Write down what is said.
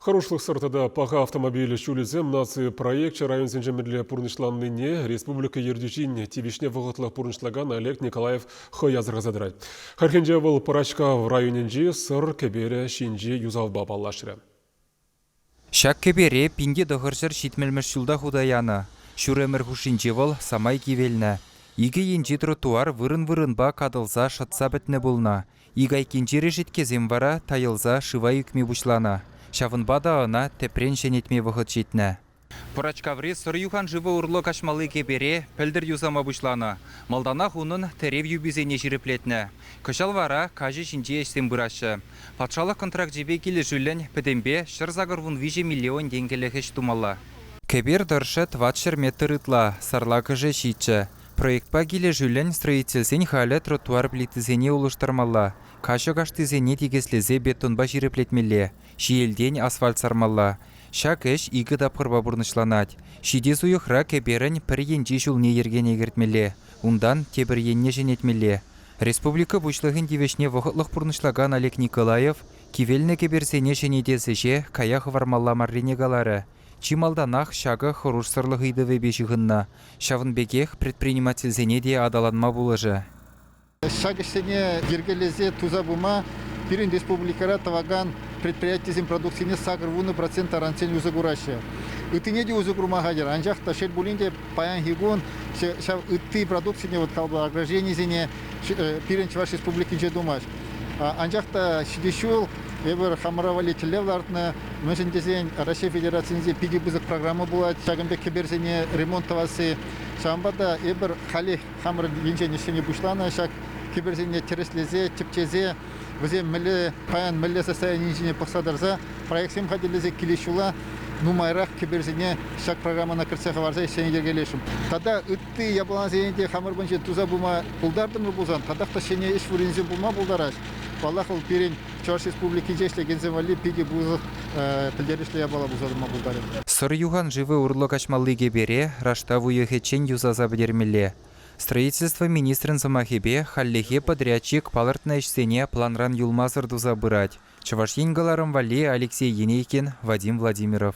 Хӑрушлӑхсӑр тата паха автомобиль ҫулӗсем наци проекчӗ районсенче мӗнле пурнӑҫланнине республика ертӳҫин тивӗҫне вӑхӑтлӑх пурнӑҫлакан Олег Николаев хӑй асӑрхаса тӑрать. Хальхинче вӑл Пӑрачкав районӗнчи Сӑр кӗперӗ ҫинчи юсавпа паллашрӗ. Ҫак кӗпере пинте тӑхӑрҫӗр ҫитмӗлмӗш ҫулта хута янӑ. Ҫур ӗмӗр хушшинче вӑл самай кивелнӗ. Икӗ енчи тротуар вырӑн-вырӑнпа катӑлса шӑтса пӗтнӗ пулнӑ. Ик айккинчи решеткесем вара тайӑлса шыва ӳкми пуҫланӑ, ҫавӑнпа та ӑна тӗпрен ҫӗнетме вӑхӑт ҫитнӗ. Пӑрачкаври сӑр юханшывӗ урлӑ каҫмалли кӗпере пӗлтӗр юсама пуҫланӑ. Малтанах унӑн тӗрев юписене ҫирӗплетнӗ. Кӑҫал вара каҫӑ ҫинчи ӗҫсем пыраҫҫӗ. Патшалӑх контракчӗпе килӗшӳллӗн пӗтӗмпе ҫӗр сакӑр вун виҫӗ миллион тенкӗлӗх ӗҫ тумалла. Кӗпер тӑршшӗ тӑватҫӗр метр ытла сарлакӑшӗ ҫиччӗ, Проектпа килӗшӳллӗн строительсен халӗ тротуар плитисене улӑштармалла, каҫӑ каштисене тикӗслесе бетонпа ҫирӗплетмелле, ҫиелтен асфальт сармалла. Ҫак ӗҫ икӗ тапхӑрпа пурнӑҫланать. Ҫити суйӑхра кӗперӗн пӗр енчи ҫулне йӗркене кӗртмелле, унтан тепӗр енне ҫӗнетмелле. Республика Пуҫлӑхӗн тивӗҫне вӑхӑтлӑх пурнӑҫлакан Олег Николаев кивелнӗ кӗперсене ҫӗнетес ӗҫе кая хӑвармалла маррине каларӗ, Чи малтанах ҫакӑ хӑрушсӑрлӑх ыйтӑвӗпе ҫыхӑннӑ, ҫавӑн пекех предпринимательсене те аталанма пулӑшӗ. Ҫак ӗҫсене йӗркелесе туса пыма пирӗн республикӑра тӑвакан предприятисен продукцине сакӑр вунӑ процент таранччен усӑ кураҫҫӗ. Ыттине те усӑ курма хатӗр, анчах та шел пулин те паянхи кун ҫав ытти продукцине вот калӑпла огражденисене пирӗн Чӑваш Республикинче тумасть. Анчах та ҫитес ҫул Эпир хамӑра валли тӗллев лартнӑ, мӗншӗн тесен Раҫҫей Федерацийӗнче питӗ пысӑк программа пулать ҫакӑн пек кӗперсене ремонт тӑвасси. Ҫавӑнпа та эпир халех хамӑрӑн енчен ӗҫсене пуҫланӑ ҫак кӗперсене тӗрӗслесе, тӗпчесе, вӗсем мӗнле паян мӗнле состояние ҫине пӑхса тӑрса проектсем хатӗрлесе килес ҫула нумайрах кӗперсене ҫак программӑна кӗртсе хӑварса ӗҫсене йӗркелесшӗн. Тата ытти япаласене те хамӑр патӗнче туса пыма пултартӑмӑр пулсан, татах та ҫӗнӗ ӗҫ вырӑнӗсем пулма пултарать. Паллах, вӑл пирӗн Чӑваш Республикинче ӗҫлекенсем валли питӗ пысӑк пӗлтерӗшлӗ япала пулса тӑма пултарӗ. Сӑр юханшывӗ урлӑ каҫмалли кӗпере раштав уйӑхӗччен юсаса пӗтермелле. Строительство министрӗн сӑмахӗпе, хальлӗхе подрядчик палӑртнӑ ӗҫсене планран юлмасӑр туса пырать, Чӑваш Ен кӑларӑм валли Алексей Енейкин, Вадим Владимиров.